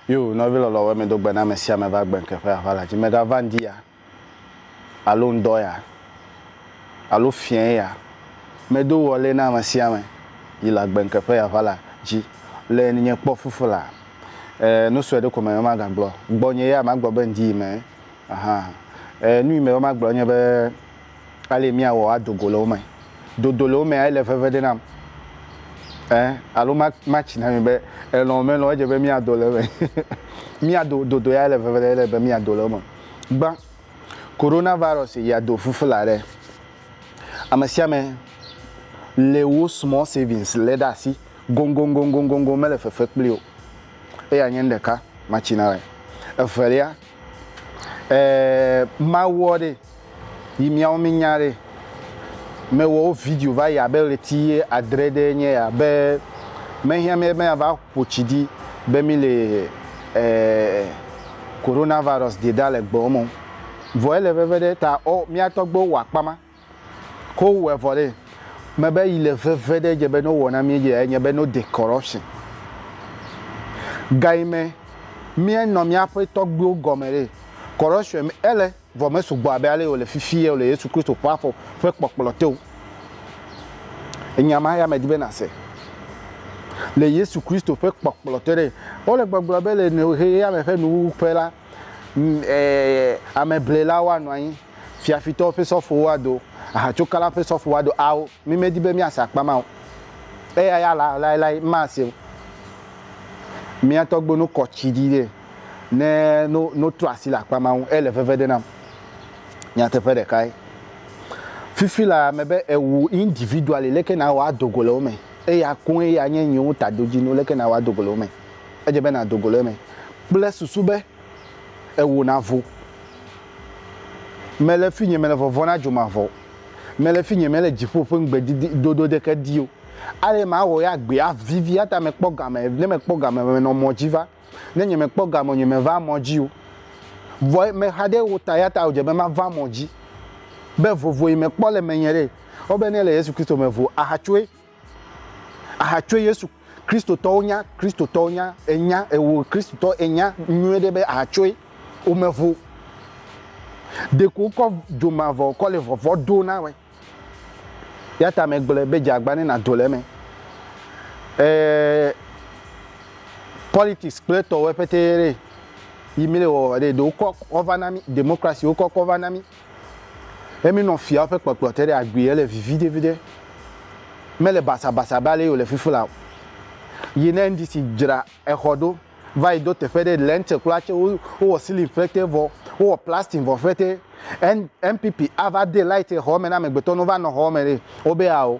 Yo, nɔvi lɔlɔ wɛ mi do gbena me sia me va gbe nke ƒe aʋa la dzi me ga va ŋdi ya, alo ŋdɔ ya, alo fiɛ ya. Me do wɔ lé na me sia me yi la gbe nke ƒe aʋa la dzi le ni nye kpɔ fufu la. E, nu sue ɖe ko me me ma ga gblɔ gbɔ nye ya ma gblɔ be ŋdi yi me Aha. E, nu yi me woma gblɔ nye be ale miawɔ ado go le wo me. Dodo le wo mea ele veve ɖe nam. E, alo ma matsi na mi be elɔ̃ melɔ̃ edze be miado le eme. miado dodo ya ele veve ɖe ele be miado le eme. Gbã. Coronavirus ya do fufula ɖe. Ame sia ame le wo small savings le ɖe asi gongongongongongon mele fefe kpli o. Eya nye nu ɖeka matsi na wɔ. Evelia. Eeee mawɔ ɖe yi miawo mi nya ɖe me wɔ wo video va yi abe ɣleti ye adre ɖe nye ya be me hiã mi be ava ƒo tsi ɖi be mi le eeee corona virus de da le gbɔ me vɔ ele veve ɖe ta ɔ mia tɔgbewo wɔ akpa ma. Ko wowɔe vɔ ɖe, mebe yi le veve ɖe dze be no wowɔ na mí dzie enye be no de corruption. Gayi me mía nɔ míaƒe tɔgbuiwo gɔme ɖe, corruption me ele vɔ me sugbɔ abe ale yi wòle fifi yeo le Yesu Kristo ƒe afɔ ƒe kpɔkplɔ te o. Enya ma ya medi be nase. Le Yesu Kristo ƒe kpɔkplɔ te ɖe, wole gbɔgblɔ be le ʋeɣi ya me ƒe nuwuwu ƒe la, M, ɛɛ, ameblelawo anɔ anyi, fiafitɔwo ƒe sɔfowo ado, ahatsokalawo ƒe sɔfowo ado, ao, mi medi be miase akpa ma o. Eya ya la, laelae, m mase o. Mía tɔgbuiwo no kɔ tsi ɖi ɖe, ne, no, no trɔ asi le akpa ma ŋu, ele veve ɖe nam. Nyateƒe ɖekae. Fifi la, mebe ewu individually, leke nàwɔ ado go le wo me. Eya koe ya nye nye wo tadodzinu, leke nàwɔ ado go le wo me. edze be nàdo go le eme kple susu be ewò nàvo. Mele fi nye mele vɔvɔ̃ na dzomavɔ o. Mele fi nye mele dziƒo ƒe ŋugbedodo ɖeke di o. Ale mawɔ ya gbea vivi eya ta mekpɔ game. Ne mekpɔ game menɔ mɔ dzi va. Ne nye mekpɔ game o nye meva mɔ dzi o. Vɔ mexa ɖe wo ta eya ta wòdze be mava mɔ dzi. Be vovo yi mekpɔ le menye ɖe. Wobe ne le Yesu Kristo me vo ahatsoe. Aha tso Yesu Kristotɔwo nya Kristotɔwo nya enya ewo Kristotɔ enya nyuie ɖe be aha tsoe womevo ɖeko kɔ dzomavɔ kɔ le vɔvɔ do na we ya ta me gblɔe be dzeagba ne nado le eme ee politics kple tɔwo ƒete ɖe yi mi le wɔwɔ ɖe ɖe wokɔ kɔ va na mi democracy wokɔ kɔ va na mi Ye minɔ fiawo ƒe kpɔkplɔ te ɖe agbee hele viviɖeviɖe. Mele basabasa abe ale yi wòle fifi la o. Yi ne NDC dzra exɔ ɖo va yi do teƒe ɖe lɛnte kura tse wo wowɔ silin ƒete vɔ wowɔ plastin vɔ ƒete N NPP ava de lait exɔ me na amegbetɔ ne wova nɔ xɔ me ɖe wobe ao.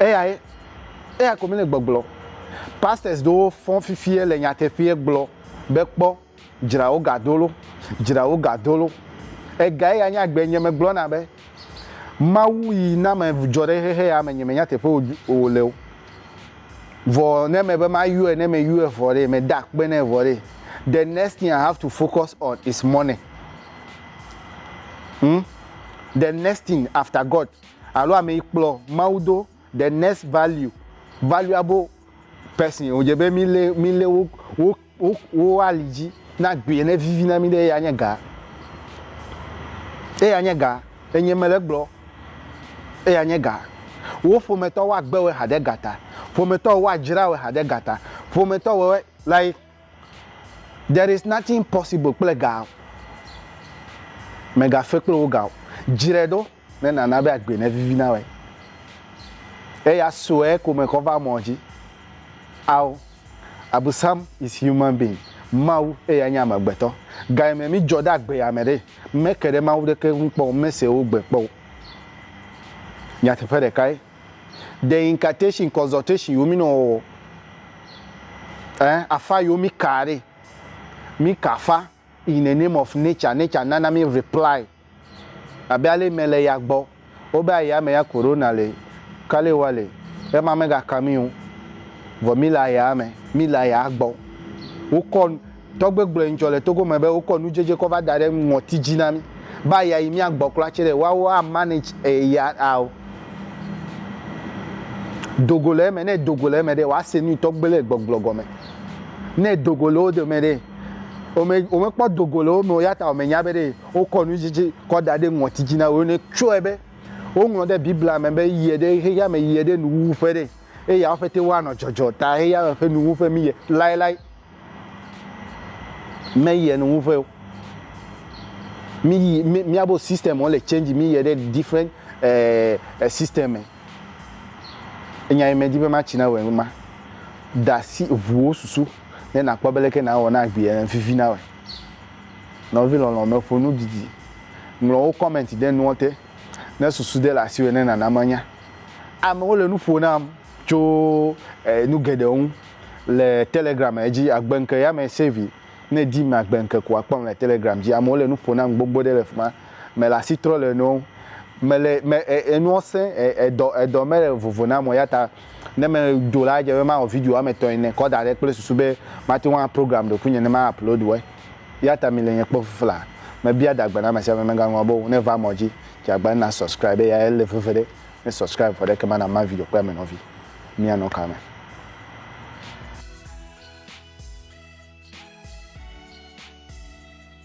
eya ye eya ko mi le gbɔgblɔ pastors ɖewo fɔ fifie le nyateƒee gblɔ be kpɔ dzra wo ga dolo dzra wo ga dolo ega eya nye agbe nye megblɔ na be mawu yi na me dzɔ ɖe xexe ya me nye me nyateƒe o le o vɔ ne me be ma yɔe ne me yɔe vɔ ɖe me da kpe ne vɔ ɖe the next thing i have to focus on is money hmm? the next thing after god Alo ame yi kplɔ Mawu do the next value valuable person wodze be mi le mi le wo wo wo wo ali dzi na agbee ne vivi na mi ɖe eya nye ga. Eya nye ga. Enye me le gblɔ. Eya nye ga. Wo ƒometɔ wa gbe we ha ɖe ga ta. Ƒometɔ wa dzra we ha ɖe ga ta. Ƒometɔ we we like there is nothing possible kple ga. Mega fe kple wo ga o. Dzre ɖo. Ne nàna be agbe nevivi na wòe, eya sue ko mekɔ va mɔ dzi. Ao, Abusam is human being, Mawu eya nye amegbetɔ. Gayime mi dzɔ ɖe agbe yame ɖe, meke ɖe Mawu ɖeke ŋu kpɔ o, mese wo gbe kpɔ o. Nyateƒe ɖekae. Ɖe incantation, consultation yiwo mi nɔ wɔwɔ, eh, afa yiwo mi kaa ɖe, mi ka afa. In the name of nature, nature nana mi reply abe ale me le ya gbɔ, wo be aya me ya corona le, kale wa le, ema me ga ka mi o, vɔ mi le aya me, mi le aya gbɔ. Wo kɔ, tɔgbe gblɔɛ ŋtsɔ le Togo me be wo kɔ nudjedje kɔ va da ɖe ŋɔti dji na mi be aya yi mia gbɔ kura tse wa wo a manage eya ao. Dogo le eme, ne dogo le eme ɖe wa se nui tɔgbe le gbɔgblɔ gɔme. Ne dogo le wo dome ɖe. womekpɔ dogo le wo me o ya ta womenya be ɖe wokɔ nu dzidzi kɔ da ɖe ŋɔti dzi na wo ne tsɔe be woŋlɔ ɖe biblia me be yie ɖe xexea me yie ɖe nuwuwu ƒe ɖe eye yawo ƒete woanɔ dzɔdzɔ ta xexea me ƒe nuwuwu ƒe miyie laelae meyie nuwuwu ƒe o miyi miabo system wole change miyie ɖe different eh, eh, system me Enya yi medi be matsi nawɔe nye ma. Da asi ʋu wò susu ne nàkpɔ be leke nàwɔ na agbee ene vivi nawɔe. Nɔvi lɔlɔ̃me, ƒo nu didi. Ŋlɔ wò kɔmɛnti ɖe nuɔ te. Ne susu de le asiwò ene nana manya. Amewo le nu ƒo nam tso nu geɖewo ŋu le Telegram dzi. Agbe ŋke ya me save yi. Ne èdim agbe ŋke ko akpɔm le Telegram dzi. Amewo le nu ƒo nam gbogbo ɖe le fi ma. mele asi trɔ le enuwo ŋu. Mele, me, e, enuwo sẽ, e, edɔ, edɔ mele vovo nam o. Eyata ne medo la, edze be mawɔ video woame etɔ̃ ene kɔ da ɖe kple susu be mate ŋu aprogram ɖokuinye ne ma upload wɔe. Eyata mile nye kpɔ fifla. Mebia dagbe na amesiame megaŋlɔ be o ne va mɔ dzi dze agbagba na subscribe eya ele veve ɖe. Ne subscribe vɔ ɖe ekema na ma video kple ame nɔvi. Mia nɔ ka me?